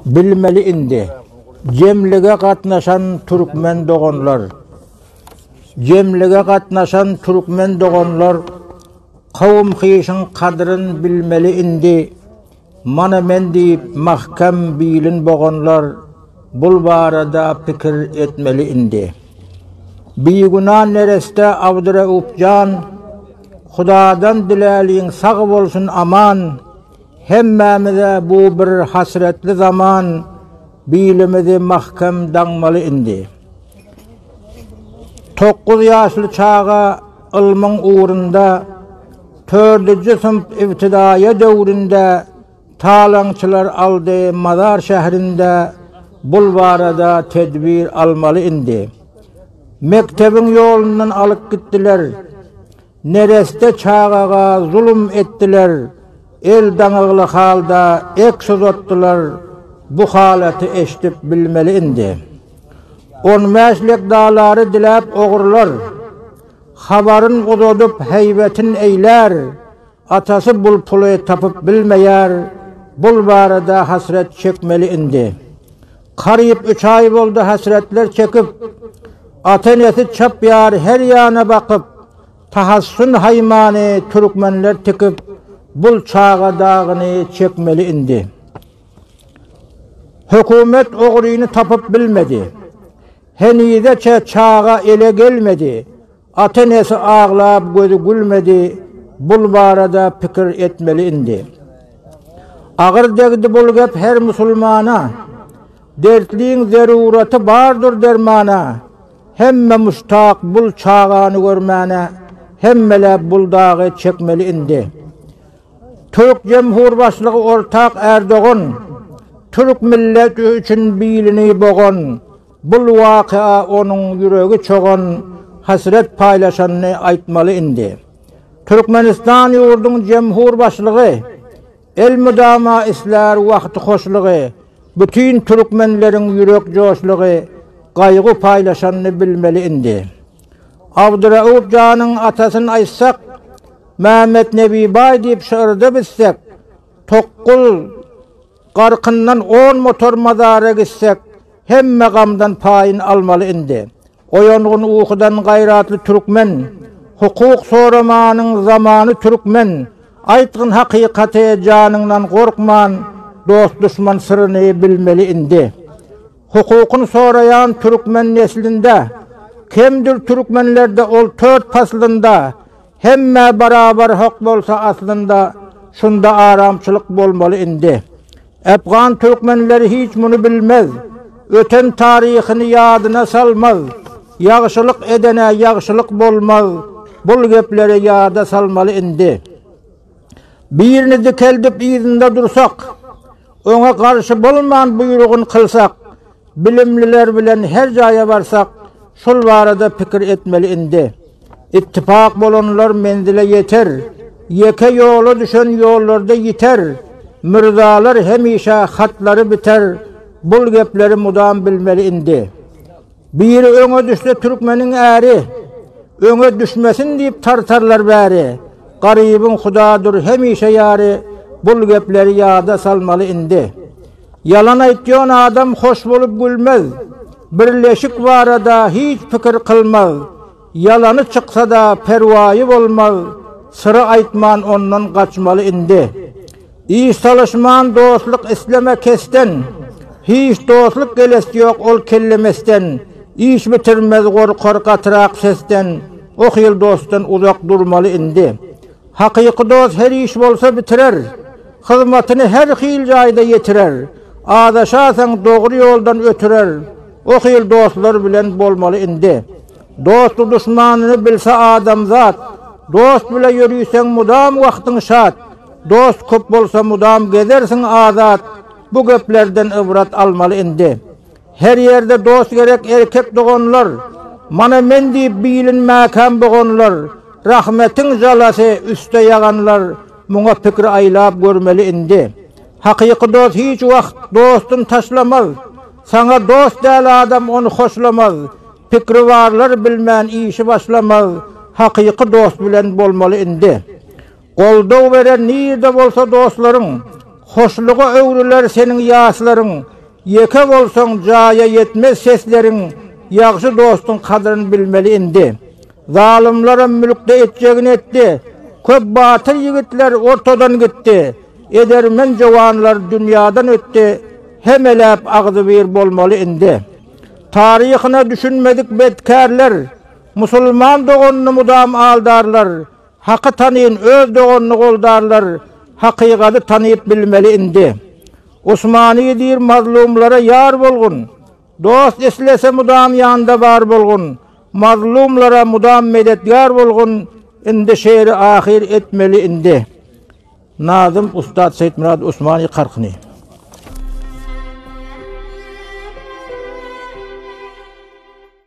Bilmeli indi, jemlige gatnaşan türkmen doganlar, jemlige gatnaşan türkmen doganlar, kowum-hyşyň kadryn bilmeli indi. Mana men diýip mahkem bilin boganlar bul barada pikir etmeli indi. Biguna nereste Abdureup jan Hudadan diläliň sag bolsun aman hemmämize bu bir hasretli zaman bilimizi mahkem daňmaly indi. Tokguz ýaşly çaga Ylmyň ugrunda Tördüji synp ibtidaýa döwründe talaňçylar aldy Mazar şährinde Bul barada tedbir almaly indi Mektebiň ýolundan alyp gitdiler Nereste çagaga zulum etdiler El daňygly halda eks uzatdylar bu halaty eşdip bilmeli indi on bäş lek dalary diläp ogrular habaryn uzadyp heýbetin eýlär atasy bul puly tapyp bilmeýär bul barada hasret çekmeli indi karyp üç aý boldy hasretler çekip ata enesi çapýar her ýana bakyp Tahassyn haýmany türkmenler tikip bul çaga dagyny çekmeli indi. Hökümet ogryny tapyp bilmedi. Henizeçe çaga ele gelmedi. Ata enesi aglap gözi gülmedi bul barada pikir etmeli indi. Agyr degdi bul gep her musulmana. Dertliň zeruraty bardyr dermana. Hemme muştak bul çagany görmäne hemmeläp bul dagy çekmeli indi. Türk jemhur başlygy ortak Erdogan Türk milleti üçin bilini bogan bul wakaa onuň ýüregi çogan hasret paýlaşanyny aýtmaly indi. Türkmenistan ýurduň jemhur başlygy Elmydama islär wagty hoşlugy, Bütin türkmenleriň ýürek joşlugy, Gaýgy paýlaşanyny bilmeli indi. Abdurauf janyň atasyn aýtsak, Mämmetnebi baý diýip şygyrda bitsek, Tokgul garkyndan on motor mazara gitsek, Hemme gamdan paýyn almaly indi. Oýangyn ukydan gaýratly türkmen, Hukuk soramanyň zamany türkmen, Aýtgyn hakykaty janyňdan gorkman, Dost-duşman syryny bilmeli indi. Hukukyn soraýan türkmen neslinde, Kemdir türkmenlerde ol tört paslynda, Hemmä barabar hak bolsa aslynda şunda aramçylyk bolmaly indi. Afgan türkmenleri hiç muny bilmez. Öten taryhyny ýadyna salmaz. Ýagşylyk edene ýagşylyk bolmaz. Bul gepleri ýada salmaly indi. Birini dikeldip yzynda dursak, oňa garşy bolman buýrugyn kylsak, Bilimliler bilen her jaýa barsak şol barada pikir etmeli indi. Ittipak bolanlar menzile ýeter, ýeke ýola düşen ýollarda ýiter, mürzalar hemişe hatlary biter bul gepleri mudam bilmeli indi. Biri öňe düşse türkmeniň äri, öňe düşmesin diýip tartarlar bäri, garybyň hudadyr hemişe ýary bul gepleri ýada salmaly indi. Ýalan aýtýon adam hoş bolup gülmez, birleşik barada hiç pikir kylmaz, ýalany çyksada perwaýy bolmaz, syry aýtman ondan gaçmaly indi. Iş salyşman dostluk isleme kesden, hiç dostluk gelesi ýok ol kelle mesden, iş bitirmez gorkar gatyrak sesden, ohyl dostdan uzak durmaly indi. Hakyky dost her iş bolsa bitirer, Hyzmatyny her hil jaýda ýetirer, Azaşasaň dogry ýoldan ötürer, O hil dostlar bilen bolmaly indi. Dosty duşmanyny bilse adamzat, Dost bile ýöriseň mudam wagtyň şat, Dost köp bolsa mudam gezersiň azat, Bu geplerden ybrat almaly indi. Her ýerde dost gerek erkek doganlar, Mana men diýip bilinmäkäm boganlar, Rahmetiň jalasy üste ýaganlar, Muňa pikir aýlap görmeli indi. Hakyky dost hiç wagt dostun taşlamaz, Saňa dost däl adam ony hoşlamaz, Pikri barlar bilmän işi başlamaz, Hakyky dost bilen bolmaly indi. Goldaw berer nirde bolsa dostlaryň, Hoşluga öwrüler seniň ýaslaryň. Ýeke bolsaň, jaýa ýetmez sesleriň, Ýagşy dostuň kadryn bilmeli indi. Zalymlaram mülkde etjegini etdi, Köp batyr ýigitler ortadan gitdi. Edermen jowanlar dünýadan ötdi, Hemeläp agzybir bolmaly indi. Taryhyna düşünmedik bedkärler, Musulman doganyny mudam aldarlar. Haky tanyn öz doganyny goldarlar hakygaty tanyp bilmeli indi Usmany diýr mazlumlara ýar bolgun Dost islese mudam ýanda bar bolgun Mazlumlara mudam medetgar bolgun indi şeýle ahyr etmeli indi Nazym Ustad Seýitmyrat Usmany karkyny.